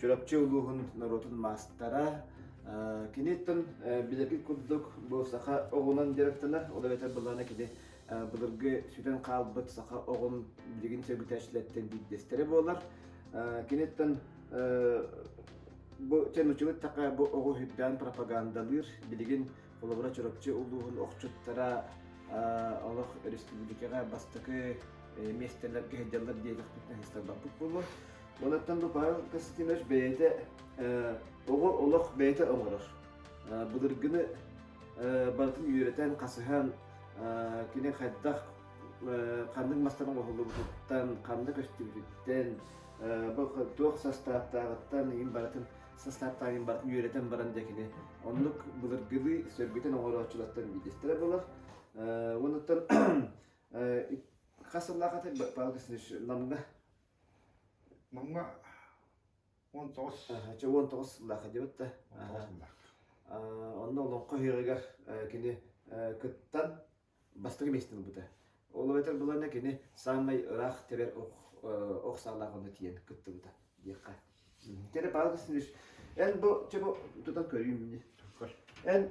Чурапчы улууһун норуотун маастара, киниттэн билэргит курдук бу саха оҕунан дьарыктанар, ол эбэтэр былаана кини былыргы сүтэн хаалбыт саха оҕун билигин сөргүтээччилэртэн биирдэстэрэ буолар. Киниттэн бу сен учугут така бу оҕу үрдээн пропагандалыыр билигин холобура Чурапчы улууһун охчуттара олох республикаға бастакы местелерге хедяллар диегахпит наһыстарбаппут булу Манаттан баҕар Костинович бэйэтэ оҕо олох бэйэтэ оҥорор. Былыргыны барытын үөрэтэн, хасыһан, кини хайдах ханнык мастарын оҥоһуллубутуттан, ханна көстүбүтүттэн, туох састааптааҕыттан иин барытын састааптааҕын барытын үөрэтэн баран дьэ кини оннук былыргыны сөргүтэн оҥорооччулартан биирдэстэрэ буолар. Уонуттан хас сыллаах ата Павел Костинович Намга Манга он тоҕус. Чэ, уон тоҕус сыллаах дьыбыт да. Он тоҕус сыллаах. Онно олоҥхо үһүөҕүгэр кини кыттан бастакы миэстин ылбыта. Ол эбэтэр былаана кини саамай ыраах тэбэр ох саалаах онно тиийэн кыттыбыта диэххэ. Кэрэ паалкасын үс. Эн бу чебу тутан көрүүм мини. Эн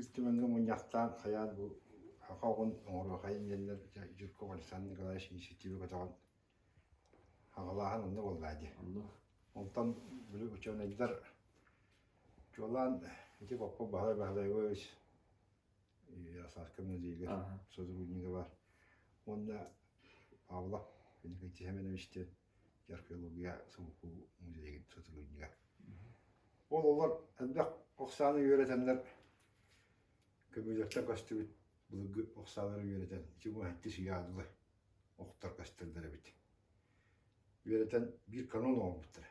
Үстүмэҥҥэ мунньахтаан хайаан бу саха оҕун оҥоруохайын диэннэр Жирков Александр Николаевич инициатива көтөҕөн аҕалааһын онно буоллаа дии. Онтон били учуонайдар чуолаан ити Поппо Баһылай Баһылайович Сааска Мадрига сотруднига уонна Павла Николай Тихоменович диэн археология Сулукуу музейын сутулунньуга. Ололор элбэх охсааны үөрэтэннэр көбүлөттөн көстүбүт былыргы охсаалары үөрэтэн ичимуһатти сыйаадылы охтор көстөлдөр эбит. Үөрэтэн биир канон оомуттара.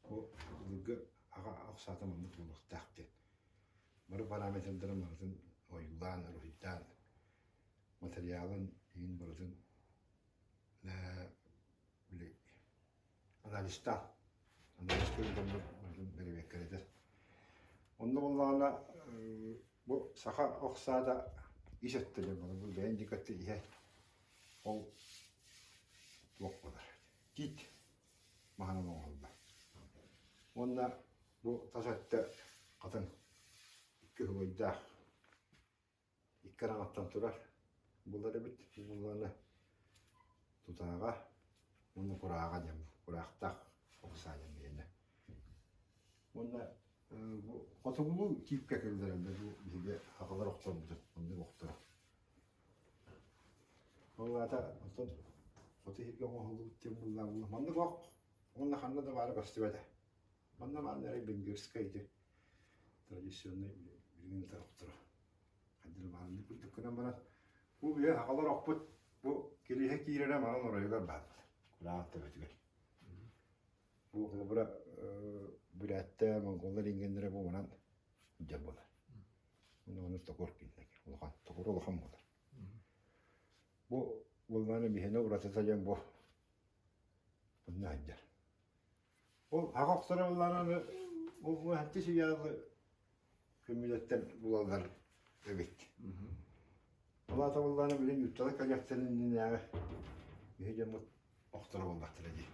Бу былыргы аға охсаата маннык буолуохтаах диэн. Бары параметрдарын барытын ойуулаан, уруһуйдаан, материалын иин барытын били анализтаах анализ көрдөммүт барын бэрэбиэркэлэтэр. Онно буоллаҕына бу саха охсаата ис өттүнэн бары бу бэйэн дикотти иһэ ол туох болар тиит маһынан оҥоһулла. Уонна бу тас өттө хатан кыһыбайдаах икки араҥаттан турар булар эбит буоллаҕына тутааҕа уонна курааҕа диэн кураахтаах ыксаан иһинэ уонна бу хотугулуу тиипкэ киллэрэллэр бу биһиги аҕалар охторбутун маннык охторо ол аата оттон хоту иһиргэ оҥоһуллубут диэн буоллаҕына маннык ох уонна ханна да баара көстүбэтэ Манна баан эрэ венгерскайды традиционнай билигин да охторо. Хандыр баанны курдук гынан баран бу үйэ хақалар оппут бу кириһэ киирэрэ манан оройугар бааллар. Кулаах төбөтүгэр. Бу холобура бүрәтте монголлар ингеннере бу манан дьэ болар. Оны оны токор киндек. Улахан токор улахан болар. Бу болманы бihene ураты тайан бу Bunlar Ол аҕа охторо ыллараны уһанчы сыйаалы көмүлэттэн булаллар эбит. Ол аата буллаана билин юттала калектен иннинээҕи биһи дьоммут охторо буоллахтара дии.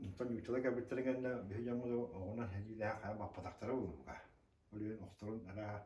Онтон юттала кэлбиттэрин кэннэ биһи дьоммут оҕунан сэриилээх хаа баппатахтара буллуга. Ол иһин охторун араа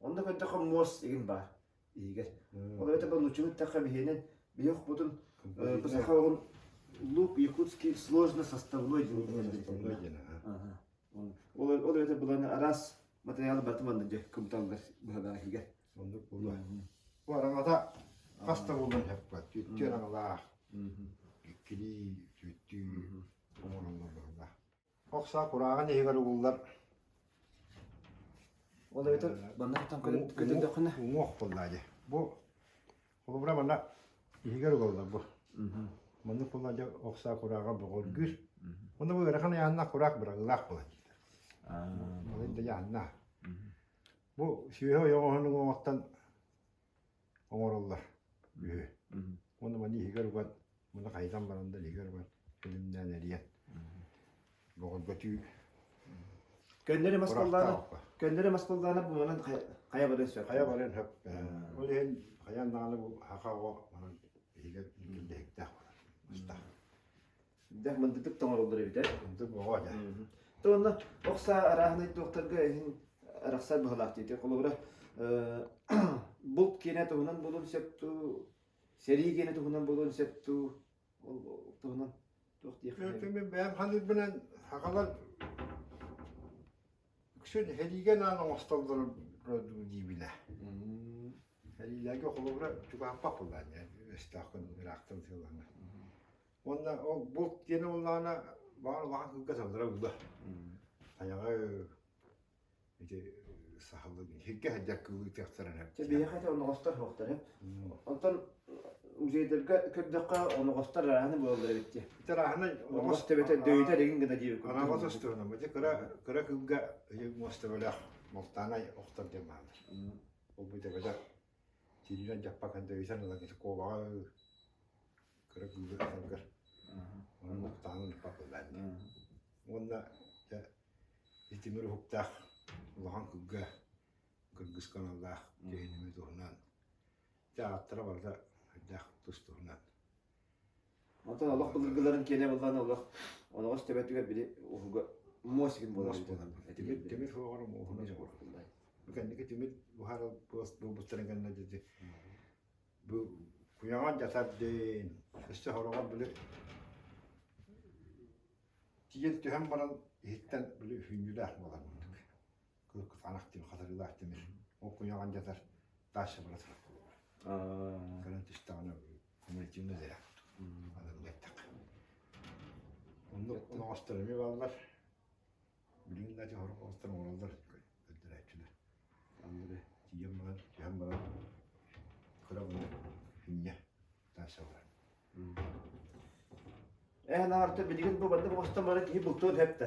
Онно көрдөххө муос игин баар иһигэр. Ол эбэтэр нучун эттэххэ биһиэнен биһохпутун саха оҕун лук якутский сложно составной диэн ол эбэтэр буланы араас материалы баты манна дьэ кымталлар быһадаахига оннук булу бу араҥата хаста булан хапка түттү араҥалаах иккилии түттүү оҥороллор быһалаах Охсо курааҕын иһигэр угуллар. Ол эбэтэр баннаттан көтөрдөххүнэ уҥуох буллаа дьэ. Бу холобура манна иһигэр угаллар бу. Маннык булла дьэ охсаа курааҕа боҕоргүүр. Онно бу ыарахан айаанна кураак быраҕыылаах буолан диэтэ. Малын да яанна. Бу сүөһү ойоҕоһун уҥуоҕуттан оҥороллор үһү. Уонна маны иһигэр уган, муну хайытан баран да иһигэр уган филимнээн эрийэн бөҕөргөтүү Көннөрү мас баллаана көннөрү мас баллаана буолан хайа баран сөп. Хайа баран хөп. Ол иһин хайа даҕаны бу хаха оҕо манан иһигэр киллэһиктээх мастаах. Дэх мындытык тоҥороллор эбитэ. Мындык боҕо дьа. То онно охса арааһынай докторга иһин арахсар быһылаах диэти холобура булт киэнэ туһунан булун септу сэрии киэнэ туһунан булун септу ол туһунан туох диэх бэйэм халыырбынан хакалар үксүн хэлиген аан оҥостоллор диибилэ хэлиилээге холобура чугааппап булаан эстаахкын ыраахтан сыылаҥа Уонна ол булт диэн ыллаана баар улахан кылга саллара ылла. Айаҕа ити сахалы сиргэ хадьар кылыытыахтаран эп. Биһиэхэ те оноҕостор суохтар Онтон музейдерге көрдөххө оноҕостор арааны буолаллар эбитти. Итер аһынан оноҕос төбөтө дөйүтэ регин гына диэбик. Анаҕос астыгына, бача кыра кыра кылга мостабылах малтаанай охтор дьамаалар. Ол бу төбөтө Сириилэн дьаппакан дэбисэн ылан куобаҕа кыра кыылы ытаргар онон уһуктаҕын ыыппат буоллаҕа ини. Уонна дьэ итимир уһуктаах улахан кылга кыргыска аналлаах киһи ньымы туһунан дьэ ааттара барыта хайдах тус туһунан Оттон олох былыргыларын киэнэ буоллаҕына олох олоҕо истэбэтигэр били уһуга муос игин буолар эбит. Тимир суоҕар муоһуна суох курдук. Кэнники тимир буһар буост буолбуттарын кэннэ дити бу куяңан жатардын өссө хороҕор били тиyen түһэн баран иһиттэн били үһүннүлээх буолар мындык. кыркыфанах диэн хатарыылаах тимир ол куйаҕан дьатар тааша бара турар кэлэн түстэҕинэ кумулятивно зря анын гэттек оннук оҕостор эми бааллар билиҥ дати хорох оҕостор оҕолор өддөрөөччүлөр аллары тиийэн баран түһэн баран кыра гына инньэ тааша баран Эн арта билигин бу маннык оҕостон бары киһи бултуон хэпте.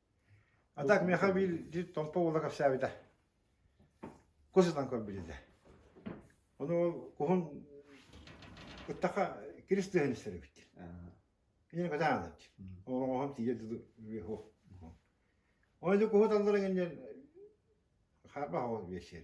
А так миэхэ биир Томпо уола кэпсээбитэ. Кус ытан көрбүтэ. Ону ол куһун ыттаха кирис тыһын истэрибит. Кинини көтөөн ылабыт. Оҕоһум тиийэ дылы үһу. Оны куһу талларын иннен харба хоол биэсиэр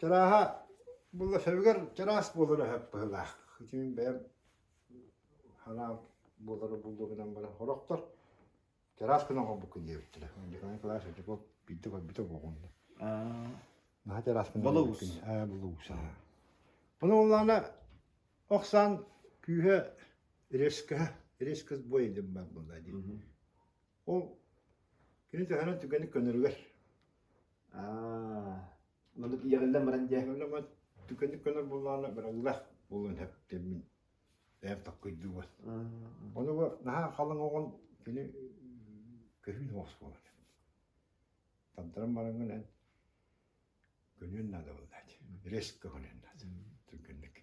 Чарааһа булласабыгар чараас буолара сөп быһылаах. Итин бэйэм ханаал буолара буллу гынан баран хорохтор чараас гынан хомбуккун диэбиттэрэ. Дьеканы кылаас дьеков битэ битэ боҕунда. Наха чараас гынан Булуус. Аа булуус. Bunu уллана Оксан күүһэ резкаха резкость бой дим бар булда дим. Ол кини төһөнөн түргэнник көнөрүгэр аа манна тиийэҕиллэн баран дьэ Өлөмөт түргэнник көнөр буоллаҕына быраллах буолуон сөп диэммин бэйэм таккыйдыыбын. Онуга наһаа халаҥ оҕон кини көһүүн оҕус буолан. Тандыран бараҥын эн көнүөн наада буоллаат. Рез көһүнэн наада. Түргэнник.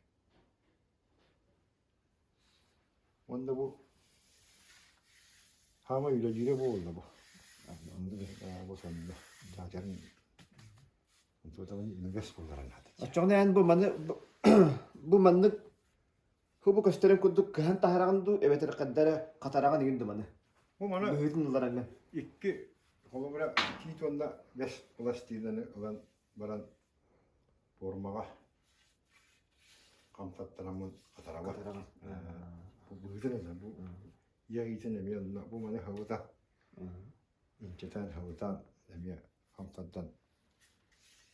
Уонна бу хаамай үлэлиирэ буолла бу. Онно да бу сонно дьаадьарын үгэс булларан аатычча. Оччоҕуна эн бу маны бу маннык хубу көстөрүн курдук кыһан таһараҕын дуу эбэтэр хаддара хатараҕын игин думаны. Бу мана быһыытын ыллараҥҥын. Икки холобура тиит уонна бэс пластинаны ылан баран пуормаҕа хамсаттараммын хатарамын быһыытын онно бу я иитин эмиэ онно бу маны хабыта инчэтэн хабытан эмиэ хамсардан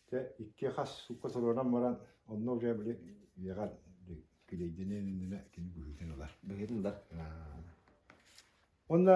те икки хас сукка сорунан баран онно уже били үйэҕэр килейдинэ иннинэ кини быһыытын ылар быһыытын ылар онно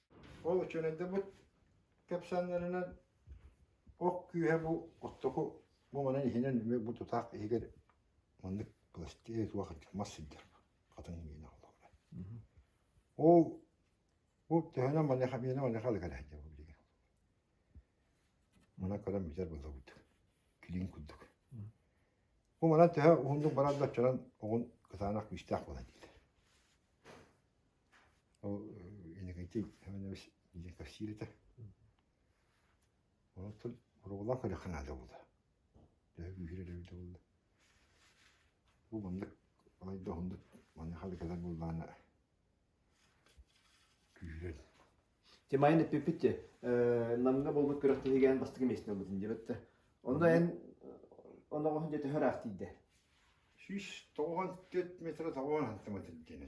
Ол үчүөнэйдэрбит кэпсээннэринэн ох күүһэ бу оттоку муҥунан иһинэн эмиэ бу тутаах иһигэр маннык пластиэ суох мас сылдьар хатан иҥиэнэ холобура. Ол бу төһөнө маныха миэнэ маныха алыга лэһдьэ бу билигин. Мана көрөн битэр былабыт. Килин курдук. Бу манан төһө уһуннук баран да оччонон оҕун кытаанах күүстээх буолар диилэр. Ол Иннокентий Иванович Васильевич онтон буруолаах өлөххө наада буолла төһө күүһүрэр эбитэ буолла бу маннык балайда уһуннук маныаха ылгылар буоллаҕына күүһүрэн Дьэ майан эппиппит дьэ Намҥа буолбут күрэхтэһиигээн бастакы миэстэ ылбытын диэбиттэр онно эн оноҕоһун дьэ төһө ыраахтыйда сүүс тоҕуон түөрт метрэ тоҕуон антыма тэлбитинэ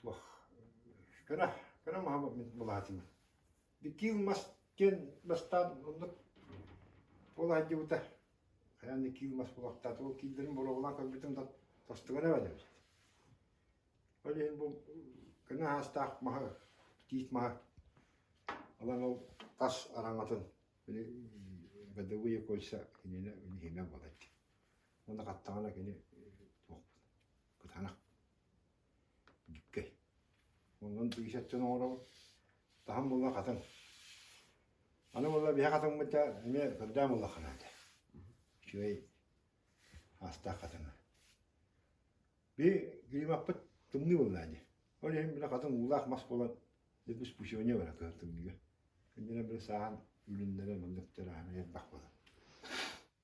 туох кыра кыра маһы былаһатымын иккиил мас диэн бастаан оннук буолаһайдьыбыта хайаан иккиил мас булахтаата ол кииннэрин боруобалаан көрбүтүм да тостугана эбит ол иһин бу көнө аастаах маһы тиит маһы ылан ол тас араҥатын били бадовые кольца кинини иһимэ буолать Уонна хаттаҕына кини туохпут кытанах бүккэй. Онон биисэт дьон оҥоробут. Таһым булла хатыҥ. Аны булла биһэ хатыммыт да эмиэ кырдаам булла ханаата. Үчүгэй аастаах хатыҥа. Би климаппыт тымныы булла ди. Ол иһин бile хатыҥ уулаах мас буолан Lepus пусионе бара кыһаттыгыга. Күннэнэ били сааһын үлүннэрэ мөллөктөр аһын элбэх буолар.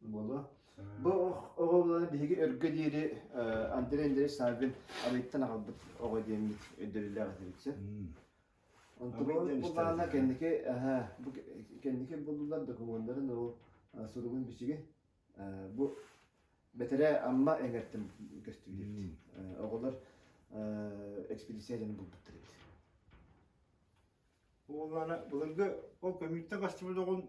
Буолуо. Бу оҕобуланы биһиги өргө диэри Андрей Андреевич Саввин арыйтан аҕалбыт оҕо диэммит өйдөбүллээх этибит син. Онтубуолу булаана кэнники кэнники буллулар докумуондарын ол суругун бичиги бу бэтэрээ амма эҥертим көстүбүт оҕолор экспедицияларын булбуттар эбит Болана былыргы ол көмүтте кастыбыт оҕун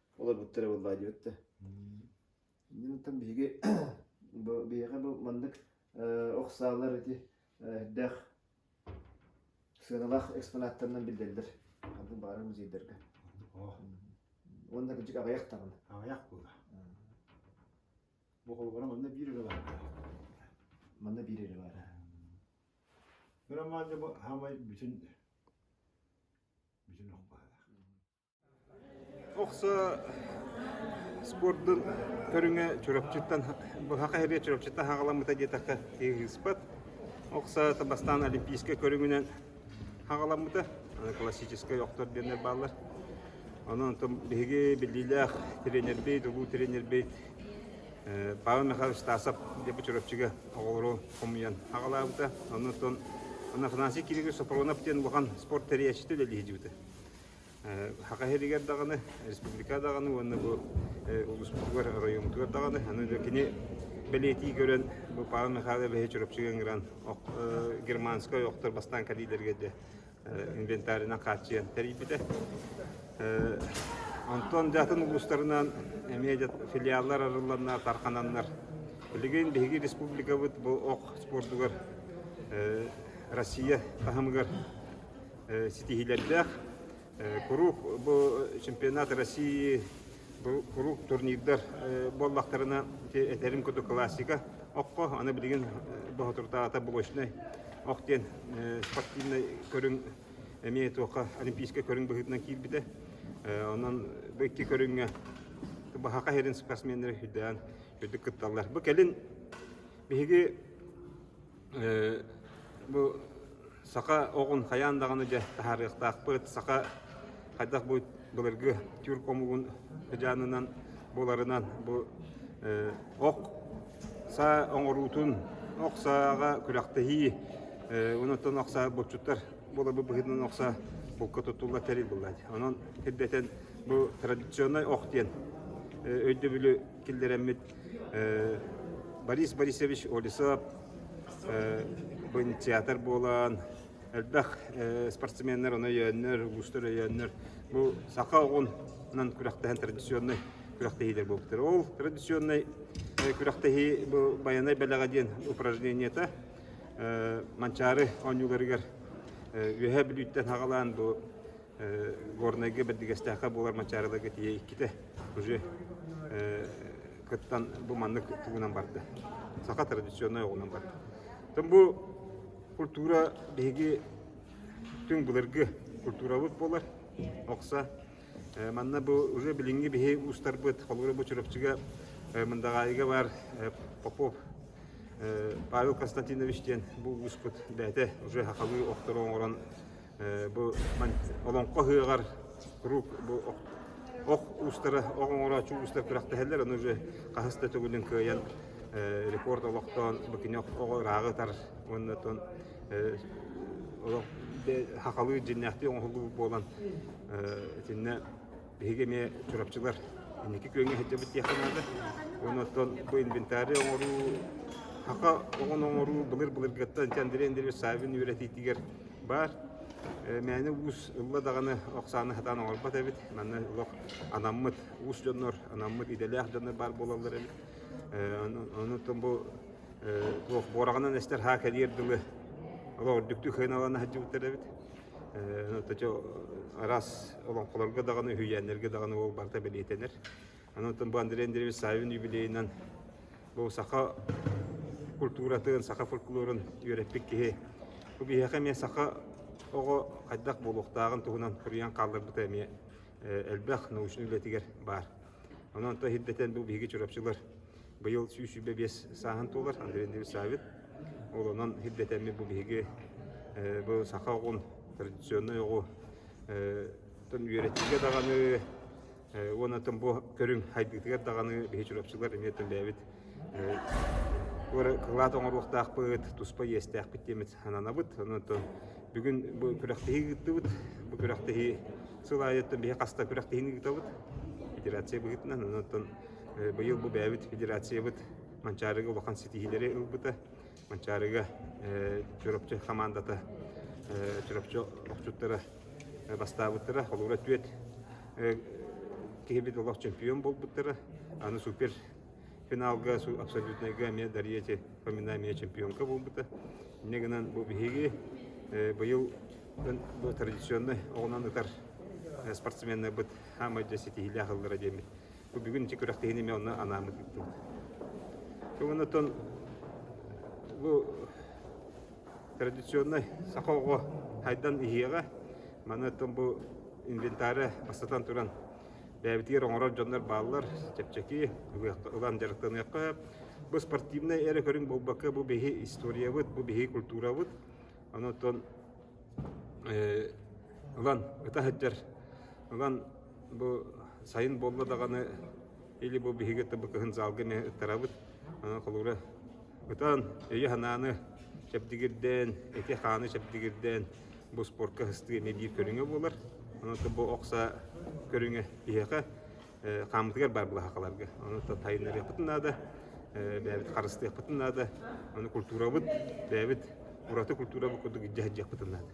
олорбуттар буоллаа диэбитте иннинтэн биһиги биһиэхэ бу маннык охсаалар ити эрдээх сыаналаах экспонаттарынан биллэллэр аны баара музейдэргэ уонна кырдьык аҕыйах даҕаны аҕыйах була бу холобуран онно биир үлэ баар манна биир үлэ баар Кырамаанды бу хамай бүтүн бүтүн охпаалаах Охсо спордун көрүҥэ Чурапчыттан быһа Хаһырыа Чурапчыттан хаҕаламмыта диэтэххэ ыыспат. Охсоото бастаан олимпийскай көрүҥүнэн хаҕаламмыта. Аны классическай охтор диэннэр бааллар. Онон онтон биһиги биллиилээх тренербит, улуу тренербит Павел Михайлович Стасов диэбит Чурапчыга оҕолору хомуйан хаҕалаабыта. Онон онон Афанасий Кириллович Сопронов диэн улахан спорт тэрийээччитэ үлэлиһэ дьыбыта. Хака иһэригэр даҕаны, республика даҕаны уонна бу улууспутугар, оройуонбутугар даҕаны аны кини бэлиэтии көрөн бу Павел Михайлович Эбэһи Чурапчыга ыҥыран германскай ойохтор бастаан кэлиилэргэ дьэ инвентарынан хааччыйан тэрийбитэ. Онтон дьатын улуустарынан эмиэ филиаллар арылланнар, тархананнар. Билигин биһиги республикабыт бу ох спордугар Россия таһымыгар ситиһиилэрдээх. Куруук бу чемпионат России куруук турнирдар буоллахтарына этэрим куту классика окко аны билигин Боһотурдаата булочнай ох диэн спортивнай көрүҥ эмиэ туохха олимпийскай көрүҥ быһыытынан киирбитэ онон бу икки көрүҥҥэ баһака херин спортсменнары үрдээн үрдүк кытталлар бу кэлин биһиги Бу саха оҕун хайаан даҕаны дьэ таһаарыахтаахпыт. Саха хайдах бу былыргы тюрк омугун дьаанынан буларынан бу ок саа оҥоруутун, ок сааҕа күрэхтэһии, онон ок саа боччуттар буларбы быһыытынан ок саа булка туттулла тэрил булла. Онон ирдэтэн бу традиционнай ок диэн өйдөбүлү киллэрэммит Борис Борисович Олесов театр буолан элбэх спортсменнар оны өйөөннөр уустар өйөөннөр бу саха оҕунан күрэхтэһэн традиционный күрэхтэһиилэр буолбуттар ол традиционный күрэхтэһии бу байанай бэлэҕэ диэн упражнениета манчаары оонньууларыгар үөһэ бүлүүттэн хаҕалаан бу Горнайга бэрдигэстээххэ буолар Мачаарыларга тиийэ иккитэ уже кыттан бу маннык тугунан барда. Саха традиционнай оҕунан барда. Тым бу культура биһиги түҥ былыргы культурабыт буолар. Окса манна бу уже билиҥҥи биһи уустарбыт холура бу Чурапчыга Мындаҕаайыга бар Попов Павел Константинович диэн бу ууспут бэйэтэ уже хахалыы охтору оҥорон бу олоҥхо ыһыаҕар куруук бу ох уустара ох оҥорооччу уустар күрэхтэһэллэр ону уже хаһыс да төгүлүн кыайан рекорд олохтоон бу кини оҕо ырааҕы ытар уонна тон олох хахалыы дьиннээхтии оҥоһуллубут буолан итиннэ Биһиги эмиэ Чурапчылар инники күөҥҥэ сылдьабыт диэххэ наада. Уонна оттон бу инвентарь оҥоруу, хака оҕону оҥоруу былыр-былыргыттан Чандырен Савин үөрэтиитигэр баар. Мээнэ уус ылла даҕаны охсааны сатаан оҥорбот эбит. Манна олох анаммыт уус дьоннор, анаммыт идэлээх дьоннор баар буолаллар эбит. Онутун бу туох буораҕынан эстэр һаа кэлиэр дылы олох үрдүктүк хыыналана сылдьыбыттар эбит. араас олоҥхолорго даҕаны, үһүйээннэргэ даҕаны ол барыта бэлиэтэнэр. Аны бу Андрей Андреевич Савин юбилейынан бу саха культуратын, саха фольклорун үөрэппит киһи. Бу биһиэхэ эмиэ саха оҕо хайдах буолуохтааҕын туһунан суруйан хаалларбыта эмиэ элбэх научнай үлэтигэр баар. Ону онто хирдэтэн бу биһиги чурапчылар быйыл сүүс сүүрбэ биэс сааһын туолар Андрей Немсавин. Олонон хирдэтэммит бу биһиги бу саха оҕун традиционнай оҕу үөрэтиигэ даҕаны уонна тым бу көрүҥ хайдыытыгар даҕаны биһи чурапчылар эмиэ төлөөбүт кылаат оҥоруохтаахпыт туспа иэстээхпит диэмит сананабыт онон Бүгүн бу күрэхтэһии ыыттыбыт. Бу күрэхтэһии сыл аайыттан биһи хаста күрэхтэһиини ыытабыт. Федерация быһыытынан, онон быйыл бу бэйэбит федерациябыт Манчаарыга улахан ситиһиилэри ылбыта. Манчаарыга Чурапчы хамаандата Чурапчы охчуттара бастаабыттара, холуура түөт киһибит олох чемпион буолбуттара, аны супер финалга абсолютнайга эмиэ Дарьяти Фоминами чемпионка буолбута. Инньэ гынан бу биһиги быйыл традиционнай оҕунан ытар спортсменнарбыт хаамайда ситиһиилээх ыллара диэммит. Бу бүгүн ичи күрэхтэһиини мен онно анаамы тыттым. Тугунаттан бу традиционнай саха оҕо хайдан иһиэҕэ, маны тон бу инвентаря бастатан туран бэйэбитигэр оҥорор дьоннор бааллар чэпчэки ылан дьарыктаныахха бу спортивнай эрэ көрүҥ буолбакка бу биһи историябыт бу биһи культурабыт онон ылан ыта сылдьар ылан бу сайын буолла даҕаны или бу биһиги кытта бу кыһын залга эмиэ ыттарабыт онон холура ытан өйө санааны чэбдигирдээн эти хааны чэбдигирдээн бу спортка сыстыыны биир көрүҥэ буолар. Онута бу окса көрүҥэ биһиэхэ хааммытыгар баар былаһаакаларга. Онута тайынарыахпытын наада, бэйэбит харыстыахпытын наада. Ону культурабыт, бэйэбит ураты культурабыт курдук илдьэ сылдьыахпытын наада.